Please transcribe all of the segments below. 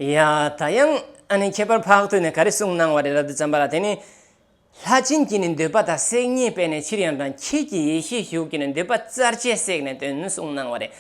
ཡང་ད་ཡང་ཨ་ནི་ཁྱད་པར་འཕགས་ཐོས་ནས་ག་རེ་གསུངས་གནང་བ་རེད་རབ་ཏུ་བརྩམས་པ་ལ་དེ་ནི། ལྷ་སྦྱིན་གྱིས་ནི་འདོད་པ་དང་སྲེག་བརྙན་སྤེལ་ནས་ཕྱིར་ཡང་དང་ཁྱེད་ཀྱི་ཡེ་ཤེས་ཞུགས་ཀྱིས་ནི་འདོད་པ་རྩར་བཅད་བསྲེགས་ནས་དོན་གསུངས་གནང་བ་རེད།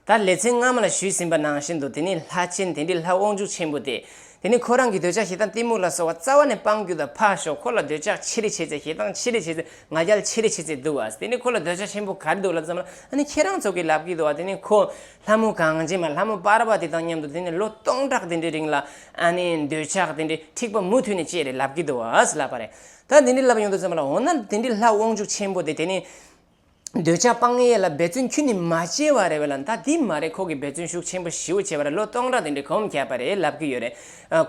ད་ལེ་ཚན་སྔ་མ་ལ་ཞུས་ཟིན་པ་ནང་བཞིན་དུ་དེ་ནི་ལྷ་སྦྱིན་དེ་འདྲའི་ལྷ་དབང་ཕྱུག་ཆེན་པོ་དེས་དེ་ནི་ཁོ་རང་གི་འདོད་ཆགས་ཞེ་སྡང་གཏི་མུག་ལ་སོགས་བ་རྩ་བ་ནས་སྤང་རྒྱུ་དང་ཕར་ཞོག་ཁོ་ལ་འདོད་ཆགས་ཆེ་རེ་བྱས་ཚེ་ཞེ་སྡང་ཆེ་རེ་བྱས་ཚེ་ང་རྒྱལ་ཆེ་རེ་བྱས་ཚེ་འདུག་བ། དེ་ནི་ཁོ་ལ་འདོད་ཆགས་ཆེན་པོ་ག་རེ་འདུག་ལབ་ཙམ་ལ་ཨ་ནི་ཁྱེད་རང་ཚོ་གི་ལབ་ཀྱི་འདུག་བ་དེ་ནི་ཁོ་ལྷ་མོ་གངས་ཅན་པ་ལྷ་མོ་དཔར་བ་དེ་དང་མཉམ་དུ་དེ་ནི་ལོ་སྟོང་ཕྲག་དེ་འདྲའི་རིང་ལ་ཨ་ནི་འདོད་ཆགས་དེ་འདྲའི་འཁྲིག་པ་མུ་མཐུད་ནས་སྐྱེས་རེ་ལབ་ཀྱི་འདུག་བ་ལབ་པ་རེད། ད་དེ་འདྲའི་ལབ་ཡོང་འདུག་ཙམ་ལ་འོ་ན་དེ་འདྲའི་ལྷ་དབང་ཕྱུག་ཆེན་པོ་དེ་དེ་ནི། འདོད་ཆགས་སྤང་ཡས་ལ་འབད་བརྩོན་ཁྱོད་ནི་མ་བྱས་བ་རེད་བས་ལ་མདའ་དེ་མ་རེད་ཁོ་གི་འབད་བརྩོན་ཤུགས་ཆེན་པོ་ཞིའོ་བྱས་པ་རེད་ལོ་སྟོང་ཕྲག་དེ་འདྲའི་གོམས་ཁྱད་པ་རེད་ལབ་གི་ཡོད་རེད་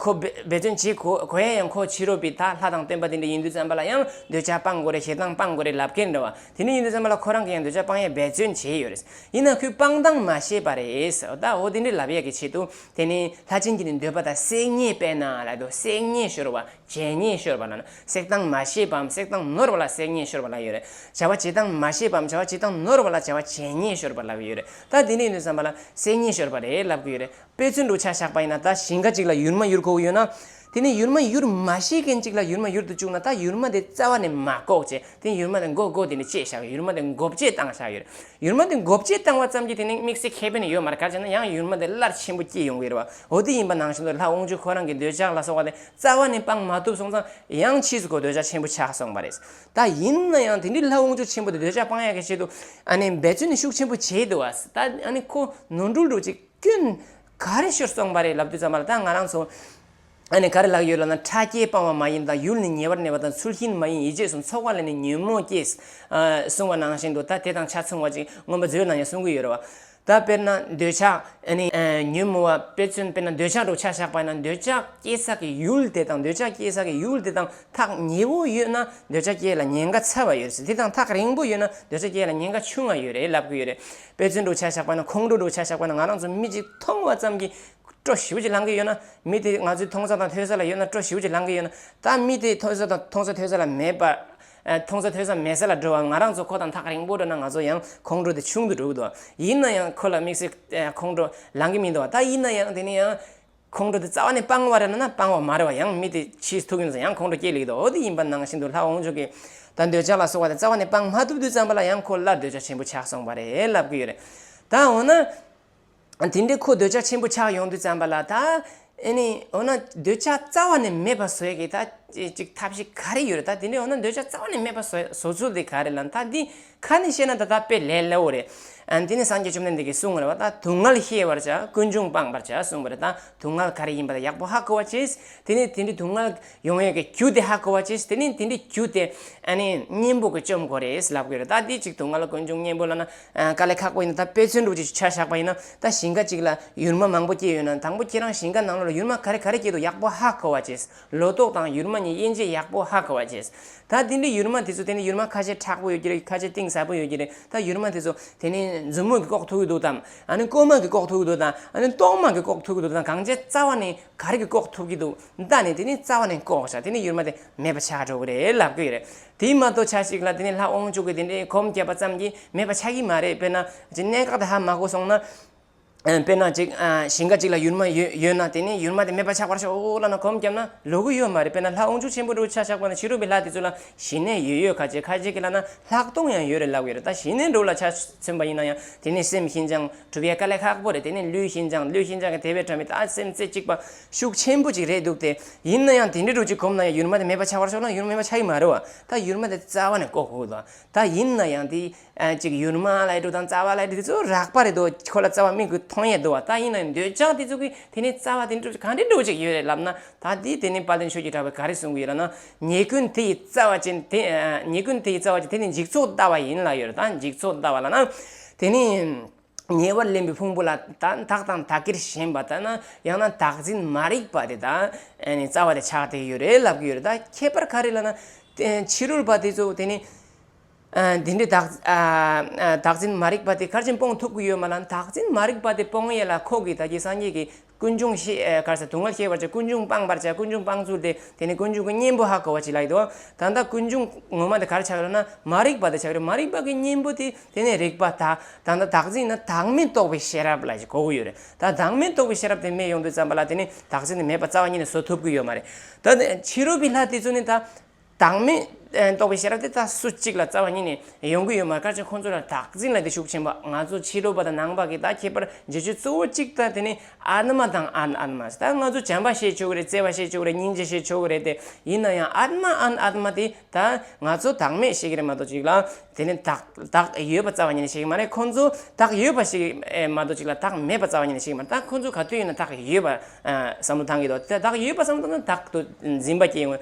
ཁོ་འབད་བརྩོན་བྱེད་གོ་གོ་ཡ་ཡང་ཁོ་ཕྱི་རོལ་པའི་དག་ལྷ་དང་སྟོན་པ་དེ་འདྲ་ཡིན་དུས་བརྩམས་པ་ལ་ཡང་འདོད་ཆགས་སྤང་དགོས་རེད་ཞེ་སྡང་སྤང་དགོས་རེད་ལབ་ཀེན་འདྲ་བ་དེ་འདྲ་ཡིན་དུས་བརྩམས་པ་ལ་ཁོ་རང་གི་ཡང་འདོད་ཆགས་སྤང་ཡས་འབད་བརྩོན་བྱས་ཡོད་རེད་ཡིན་ན་ཁོས་སྤང་སྡང་མ་བྱས་པ་རེད་ད་འོ་དེ་འདྲའི་ལབ་ཡས་ཀྱི་ཆེད་དུ་དེ་ནི་ལྷ་སྤྱིན་གྱི་ནི་འདོད་པ་དག་བསྲེགས་ཉེས་པས་ན་ལ་དོ་བསྲེགས་ཉེས་ཤོར་བ་བྱས་ཉེས་ཤོར་བ་ལ་ནི་བསྲེགས་སྟངས་མ་ཤེས་པའམ་བསྲེགས་སྟངས་ནོར་བ་ལ་བསྲེགས་ཉེས་ཤོར་བ་ལགས་ཡོད་རེད། བྱ་བ་བྱེད་སྟངས་མ་ཤེས་པའམ་བྱ་བ་བྱེད་སྟངས་ནོར་བ་ལ་བྱ་བ་བྱས་ཉེས་ཤོར་བ་ལགས་ཡོད་རེད། ད་དེ་ནས་ནི་བསམ་པ་ལ་བསྲེགས་ཉེས་ཤོར་བ་རེད་ལབ་གི་ཡོད་རེད། དཔེ་མཚོན་དུ་ཆ་བཞག་པ་ཡིན་ན་ད་ཞིང་ཁ་ཅིག་ལ་ཡུར་མ་ཡུར་ཁོ་བོ་ཡོད་ན། དེ་ནས་ཡུར་མ་ཡུར་མ་ཤེས་མཁན་ཅིག་ལ་ཡུར་མ་ཡུར་དུ་བཅུག་ན་ད་ཡུར་མ་དེ་རྩ་བ་ནས་མ་འགོག་བྱས་དེ་ཡུར་མ་དེ་འགོག་འགོག་དེ་ནས་བཅད་བཞག་ཡུར་མ་དེ་འགོ་བཅད་བཏང་བཞག་ཡོད་རེད། ཡུར་མ་དེ་འགོ་བཅད་བཏང་བ་ཙམ་གྱིས་དེ་ནས་དམིགས་བསལ་ཁེ་ཕན་ཡོད་མ་རེད་ག་བྱས་ན་ཡང་ཡུར་མ་དེ་སླར་ཆེན་པོ་སྐྱེས་ཡོང་གི་རེད་བ་འོ་དེ་ཡིན་པ་ནང་བཞིན་དུ་ལྷ་དབང་ཕྱུག་ཁོ་རང་གི་འདོད་ཆགས་ལ་སོགས་པ་དེ་རྩ་བ་ནས་སྤང་མ་ཐུབ་སོང་ཙང་ཡང་ཕྱིས་སུ་གོ་འདོད་ཆགས་ཆེན་པོ་ཆགས་སོང་བ་རེད། ད་ཡིན་ན་ཡང་དེ་འདྲའི་ལྷ་དབང་ཕྱུག་ཆེན་པོ་དེ་འདོད་ཆགས་སྤང་ཡག་གི་ཆེད་དུ་ཨ་ནི་འབད་བརྩོན་ནི་ཤུགས་ཆེན་པོ་བྱས་འདུག་བ། ད་ཨ་ནི་ཁོ་ནོར་འཁྲུལ་འགྲོ་ཅིག་སྐྱོན་ག་རེ་ཤོར་སོང་བ་རེད་ལབ་དུས་ཙམ་པ་ལ་ད་ང་རང་ཚོ་ཨ་ནི་ག་རེ་ལགས་ཡོད་ལབ་ན་ཕྲ་རྒྱས་སྤང་བ་མ་ཡིན་དང་ཡུལ་ནི་ཉེ་བར་གནས་པ་དང་ཚུལ་ཤིང་མ་ཡིན་ཡིད་རྗེས་སུ་འཚོགས་པ་ལ་ནི་ཉོན་མོངས་སྐྱེས། གསུང་བ་ནང་བཞིན་དུ་ད་དེ་དང་ཆ་མཚུངས་བ་ཅིག་མངོན་པ་མཛོད་ནང་ཡང་གསུང་གི་ཡོད་རེད་བ། ད་དཔེར་ན་འདོད་ཆགས། ཉོན་མོངས་པ་དཔེར་མཚོན་དཔེར་ན་འདོད་ཆགས་འགྲོ་འཆག་བཞག་པ་ན་འདོད་ཆགས་སྐྱེ་ས་ཀྱི་ཡུལ་དེ་དང་འདོད་ཆགས་སྐྱེ་ས་ཀྱི་ཡུལ་དེ་དང་ཐག་ཉེ་བོ་ཡོད་ན་འདོད་ཆགས་སྐྱེ་ལ་ཉེན་ཁ་ཚ་བ་ཡོད་སྲིད་དེ་དང་ཐག་རིང་པོ་ཡོད་ན་འདོད་ཆགས་སྐྱེ་ལ་ཉེན་ཁ་ཆུང་ང་ཡོད་རེད་ལབ་གི་ཡོད་རེད་དཔེར་མཚོན་འགྲོ་འཆག་བཞག་པ་ན་ཁོང་ཁྲོ་འགྲོ་འཆག་བཞག་པ་ན་ང་རང་ཚོ་མི་གཅིག་མཐོང་བ་ཙམ་གྱིས་སྤྲོ་ཞིའུ་ཅི་ལང་གི་ཡོད་ན་མི་དེ་ང་ཚོའི་མཐོང་ས་དང་ཐོས་ས་ལ་ཡོད་ན་སྤྲོ་ཞིའུ་ཅི་ལང་གི་ཡོད་ན་ད་མི་དེ་མཐོང་ས་དང་མཐོང་ས་ཐོས་ས་ལ་མེད་པ་མཐོང་ཚོད་ཐོས་ས་མེད་ས་ལ་འགྲོ་བ་ང་རང་ཚོ་ཁོ་དང་ཐག་རིང་པོ་འགྲོ་ན་ང་ཚོ་ཡང་ཁོང་ཁྲོ་དེ་ཆུང་དུ་འགྲོ་གི་འདུག་ཡིན་ན་ཡང་ཁོ་ལ་དམིགས་བསལ་ཁོང་ཁྲོ་ལང་གི་མི་འདུག་ད་ཡིན་ན་ཡང་དེ་ནི་ཡང། ཁོང་ཁྲོ་དེ་རྩ་བ་ནས་སྤང་བ་རེད་ན་ན་སྤང་བ་མ་རེད་བ་ཡང་མི་དེ་ཕྱིས་ཐུག་ཡིན་ན་ཡང་ཁོང་ཁྲོ་སྐྱེ་ལེགས་འདུག་འོ་དེ་ཡིན་པ་ནང་བཞིན་དུ་ལྷ་འོང་ཆོག་གི། ད་འདོད་ཆགས་ལ་སོགས་བ་དེ་རྩ་བ་ནས་སྤང་མ་ཐུབ་དུས་ཙམ་པ་ལ་ཡང་ཁོ་སླར་འདོད་ཆགས་ཆེན་པོ་ཆགས་སོང་བ་རེད་ལབ་ཀི་ཡོད་རེད། ད་འོ་ན། དེ་འདྲའི་ཁོ་འདོད་ཆགས་ཆེན་པོ་ཆགས་ཡོང་དུས་ཙམ་པ་ལ་ད་ནི་འོ་ན་འདོད་ཆགས་རྩ་བ་ནས་མེད་པ་བཟོས་ཀྱི་ད་ཅིག་ཐབས་ཤེས་ག་རེ་ཡོད་རེད་ད་དེ་འདྲའི་འོ་ན་འདོད་ཆགས་རྩ་བ་ནས་མེད་པ་བཟོ་ཚུལ་དེ་ག་རེ་ལ་ད་འདི་ཁ་ནས་བཤད་ན་ད་ད་དཔེ་ལས་སླ་བོ་རེད། དེ་ནས་སངས་རྒྱས་བཅོམ་ལྡན་འདས་ཀྱིས་གསུངས་པ་ལ་ད་དུག་ལྔལ་ཤེས་པར་བྱ་ཀུན་འབྱུང་སྤངས་པར་བྱ་གསུངས་པ་རེད་ད་དུག་ལྔལ་ག་རེ་ཡིན་པ་ད་ཡག་པོ་ཧ་གོ་བར་བྱེད། དེ་ནས་དེ་འདྲའི་དུག་ལྔལ་ཡོང་ཡོད་ཀྱི་རྒྱུ་དེ་ཧ་གོ་བར་བྱེད་དེ་ནས་དེ་འདྲའི་རྒྱུ་དེ་གཉེན་པོ་གྱི་བཅོམ་གོ་རེད་ལབ་གི་རེད་ད་དེ་ཅིག་དུག་ལྔལ་ཀུན་འབྱུང་གཉེན་པོ་ལ་ན་དཀའ་ལས་ཁག་པོ་ཡིན་ན་ད་དཔེ་མཚོན་སྒྲུབ་བྱེད་ཆུ་ཆར་བཞག་པ་ཡིན་ན་ད་ཞིང་ཁ་ཅིག་ལ་ཡུར་མ་མང་པོ་སྐྱེས་ཡོད་ན་དང་པོ་ཁྱེད་རང་ཞིང་ཁ་ནང་ལོ་ལ་ཡུར་མ་ག་རེ་ག་རེ་སྐྱེས་འདུག་ཡག་པོ་ཧ་གོ་བ་བྱེད། ལོ་ཏོག་དང་ཡུར་མ་གཉིས་དབྱེ་འབྱེད་ཡག་པོ་ཧ་གོ་བ་བྱེད། ད་དེ་འདྲའི་ཡུར་མ་དེ་ཚོ་དེ་ནི་ཡུར་མ་ཁ་ཤས་ཁྲག་པོ་ཡོད་ཀྱི་རེད་ཁ་ཤས་གཏིང་ཟབ་པོ་ཡོད་ཀྱི་རེད་ད་ཡུར་མ་དེ་ཚོ་དེ་ནི་མཛུབ་མོ་གིས་བཀོག་ཐུབ་ཀྱི་འདུག་དང་ཨ་ནི་རྐུན་མ་གིས་བཀོག་ཐུབ་ཀྱི་འདུག་དང་ཨ་ནི་གཏོར་མ་གིས་བཀོག་ཐུབ་ཀྱི་འདུག་དང་གང་བྱས་རྩ་བ་ནི་ག་རེ་གིས་བཀོག་ཐུབ་ཀྱི་འདུག་ད་ནི་དེ་ནི་རྩ་བ་ནས་བཀོག་བྱ་དེ་ནི་ཡུར་མ་དེ་མེད་པ་ཆགས་འགྲོ་གི་རེད་ལབ་ཀྱི་རེད་དེའི་མ་གཏོགས་ཆ་ཞིག་ལ་དེ་ནས་ལྷག་དབང་ཕྱུག་གི་དེ་འདྲའི་གོམས་བསྐྱེད་པ་ཙམ་གྱིས་མེད་པ་ཆགས་ཀྱི་མ་རེད་དཔེར་ན། ཅིག་གནད་འགག་དེ་ཧ་མ་གོ་སོང་ན། དཔེར་ན་ཅིག་ཞིང་ཁ་ཅིག་ལ་ཡུར་མ་ཡོད་ན་དེ་ནས་ཡུར་མ་དེ་མེད་པ་ཆགས་པར་ཤོག་ལབ་ན་གོམས་བརྒྱབ་ན་ལོ་གི་ཡོད་མ་རེད་དཔེར་ན་ལྷག་དབང་ཕྱུག་ཆེན་པོ་འདྲ་བོ་ཆ་ཞག་པ་ན་ཕྱི་རོལ་པའི་ལྷ་དེ་ཚོ་ལ་ཞི་གནས་ཡོད་ཡོད་ཁ་ཅིག་ཁ་ཅིག་གི་ལ་ན་ལྷག་མཐོང་ཡང་ཡོད་རེད་ལབ་ཀྱི་རེད་ད་ཞི་གནས་འགྲོ་ལ་ཆ་མཚོན་པ་ཡིན་ན་ཡང་དེ་ནས་སེམས་ཤིན་སྦྱངས་གྲུབ་ཡས་དཀའ་ལས་ཁག་པོ་རེད་དེ་ནས་ལུས་ཤིན་སྦྱངས་ལུས་ཤིན་སྦྱངས་ཀྱི་དེ་བས་ཕྲ་མི་ད་སེམས་རྩེ་གཅིག་པ་ཤུགས་ཆེན་པོ་ཅིག་རེད་འདུག་སྟེ། ཡིན་ན་ཡང་དེ་འདྲའི་དྲོ་སྐྱིད་གོམས་ན་ཡང་ཡུར་མ་དེ་མེད་པ་ཆགས་པར་ཤོག་ན་ཡུར་མེད་པ་ཆགས་ཀྱི་མ་རེད་བ། ད་ཡུར་མ་དེ་རྩ་བ་ནས་བཀོག་ཧུད་ལ། ད་ཡིན་ན་ཡང་དེ། ཅིག་ཡུར་མ་ལ་ཡི་དྲོ་དང་རྩ་བ་ལ་ཡི་དྲོ་དེ་ཚོ་རགས་པ་རེད་དོ། ཁྱོད་ལ་རྩ་བ་མིག་གིས་མཐོང་ཡས་དོ་བ། ད་ཡིན་ན་འདོད་ཆགས་དེ་ཚོ་གིས་དེ་ནས་རྩ་བ་དེ་འདྲའི་དྲོ་ཅིག་ག་འདྲའི་དྲོ་ཅིག་ཡོད་རེད་ལབ་ན། ད་དེས་དེ་ནས་བ་དན་ཆོས་ཀྱི་གྲགས་པས་ག་རེ་གསུང་གི་ཡོད་ར་ན། ཉེས་ཀུན་དེ་ཡི་རྩ་བ་ཅན་དེ། ཉེས་ཀུན་དེ་ཡི་རྩ་བ་ཅན་དེ་ནི་འཇིག་ཚོགས་ལྟ་བ་ཡིན་ལ་ཡོད་རེད་ད་འཇིག་ཚོགས་ལྟ་བ་ལ་ན། དེ་ནི། ཉེ་བར་ལེན་པའི་ཕུང་པོ་ལ་དག་དག་དང་དག་གིར་ཞེན་པ་དང། ཡང་ན་དག་འཛིན་མ་རིག་པ་དེ་དག་རྩ་བ་ནས་ཆགས་བསྡད་ཡོད་རེད་ལབ་ཀྱི་ཡོད་རེད་ད་ཁྱད་པར་ག་རེ་ལ་ན། ཕྱི་རོལ་པ་དེ་ཚོ་དེ་ནི། དེ་འདྲའི་དག་དག་འཛིན་མ་རིག་པ་དེ་གར་ཕྱིན་སྤོང་ཐུབ་ཀྱི་ཡོད་མ་ལ་དག་འཛིན་མ་རིག་པ་དེ་སྤོང་ཡས་ལ་ཁོག་གི་ད་ཀྱི་སངས་རྒྱས་ཀྱི་ཀུན་འབྱུང་ཤེས་དཀར་ཟེར་དུག་ལྔ་ཤེས་པར་བྱ་ཀུན་འབྱུང་སྤངས་པར་བྱ་ཀུན་འབྱུང་སྤངས་ཚུལ་དེ་དེ་ནི་ཀུན་འབྱུང་གི་གཉེན་པོ་ཧ་གོ་བ་ཅི་ལ་ཡོད་དོ། ད་ལྟ་ཀུན་འབྱུང་ངོ་མ་དེ་གར་ཆགས་ཡོད་ན་མ་རིག་པ་དེ་ཆགས་ཡོད་མ་རིག་པ་གི་གཉེན་པོ་དེ་དེ་ནི་རིག་པ་དག་དང་ད་བདག་འཛིན་ན་བདག་མེད་རྟོགས་པའི་ཤེས་རབ་ལ་ཞེས་གོ་གི་ཡོད་རེད་ད་བདག་མེད་རྟོགས་པའི་ཤེས་རབ་དེ་མེད་ཡོང་དུས་ཙམ་པ་ལ་དེ་ནི་བདག་འཛིན་དེ་མེད་པ་རྩ་བ་ཉིད་ནས་བཟོ་ཐུབ་ཀྱི་ཡོད་མ་རེད། ད་དེ་ཕྱི་རོལ་པའི་ལྷ་དེ་ཚོ་ནི་ད། བདག་མེད་རྟོགས་པའི་ཤེས་རབ་དེ་དག་སུ་གཅིག་ལ་རྩ་བ་ཉིད་ནས་ཡོང་གི་ཡོད་མ་དཀའ་ཅིང་ཁོང་ཚོ་ལ་བདག་འཛིན་ལ་དེ་ཤུགས་ཆེན་པོ་ང་ཚོ་ཕྱི་རོལ་པ་དང་ནང་པ་གིས་དག་ཁྱད་པར་འབྱེད་ཆོས་གཙོ་བོ་གཅིག་དང་དེ་ནི་ཨཱཏྨ་དང་ཨཱན་ཨཱཏྨཱས་ད་ང་ཚོ་བྱམས་པ་བྱེད་ཆོག་གི་རེད་བརྩེ་བ་བྱེད་ཆོག་གི་རེད་སྙིང་རྗེ་བྱེད་ཆོག་གི་རེད་དེ་ཡིན་ན་ཡང་ཨཱཏྨ་ཨཱན་ཨཱཏྨཱ་དེ་དག་ང་ཚོ་བདག་མེད་བྱེད་ཀྱི་རེད་མ་གཏོགས་གཅིག་ལ་དེ་ནི་བདག་བདག་ཡོད་པ་རྩ་བ་ཉིད་ནས་བྱེད་ཀྱི་མ་རེད་ཁོང་ཚོ་བདག་ཡོད་པ་བྱེད་ཀྱི་མ་གཏོགས་གཅིག་ལ་བདག་མེད་པ་རྩ་བ་ཉིད་ནས་བྱེད་ཀྱི་མ་རེད་ད་ཁོང་ཚོ་ག་དུས་ཡིན་ན་བདག་ཡོད་པ་བསམ་བློ་བཏང་གི་འདུག་དེ་བདག་ཡོད་པ་བསམ་བློ་བཏང་ན་བདག་ཏུ་འཛིན་པ་སྐྱེ་ངོས་